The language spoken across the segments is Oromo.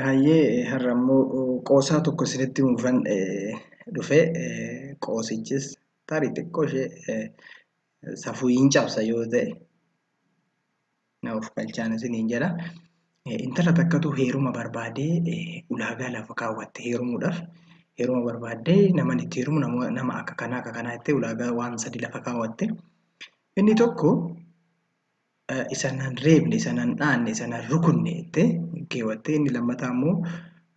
Hayyee har'a immoo qoosaa tokko isinitti himuufan dhufe qoosichis tarii xiqqoo ishee safuu hin cabsa yoo ta'e na of galchaan isiniin jedha. Intala takkatu heeruma barbaadee ulaagaa lafa kaawwatte heerumuudhaaf heeruma barbaaddee naman itti heerumu nama akka kanaa akka kanaa jettee ulaagaa waan sadi lafa kaawwatte. Inni tokko isa nan reebne, isa nan dhaanne, isa nan rukunne jettee hin keewwattee inni lammataa immoo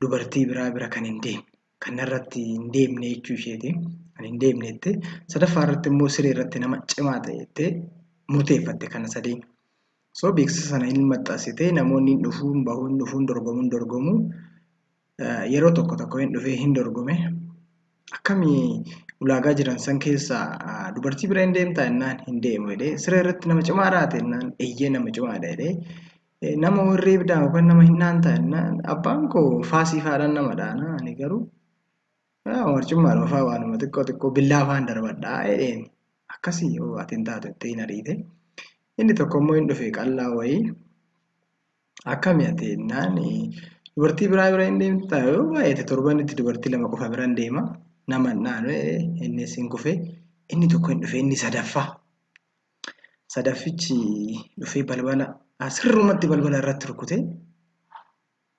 dubartii biraa bira kan hin deemne kan narratti hin deemne jechuu isheeti kan hin deemne jettee sadaffaa irratti immoo siree irratti nama cimaa ta'e jettee murteeffatte kana sadeen. So beeksisa sana hin maxxansitee namoonni hin dhufuun bahuun dhufuun dorgomuun dorgomuu yeroo tokko tokko hin dhufee hin dorgome akkami ulaagaa jiran san keessaa dubartii bira hin deemtaa jennaan hin deemu jedhee siree irratti nama cimaa raate jennaan eeyyee nama cimaadha jedhee nama warri ibdaa yookaan nama hin dhaantaa jennaan abbaan koo faasii faadhaan nama dhaana ani garuu warcummaa dhufaa waanuma xiqqoo xiqqoo billaa faan darbadhaa jedheen akkasii yoo ati hin taatu jettee hin ariite inni tokko immoo hin dhufe qallaa wayii Akkami ati jennaan dubartii biraa bira hin deemta yoo baay'ate torbanitti dubartii lama qofa biran deema nama hin dhaanu jedhee innis hin kufe inni tokko hin dhufe inni sadaffaa sadaffichi dhufee balbala ah, sirrumatti balbala irratti rukute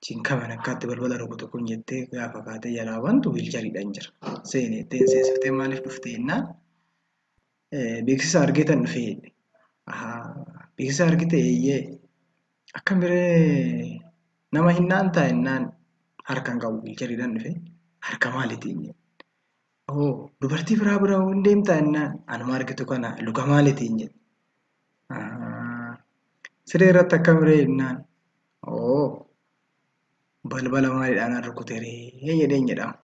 chin kaman akkaatti balbala rukutu kun jettee gaafa kaatee jalaa bantu wiilchariidhaan jira seenee ittiin seesiftee maaliif dhuftee jennaan Beeksisa argeetan dhufe jedhe. Ahaa beeksisa argite eeyyee akkamiree nama hin dhaantaa jennaan harka hin qabu wiilchariidhaan dhufe harka maalitiin jedhe. Hoo dubartii biraa bira hoo hin deemtaa jennaan anuma argitu kana luka maalitiin jedhe. Ahaa siree irratti akkamiree jennaan hoo balbala maaliidhaan rukuteree jedheen jedhama.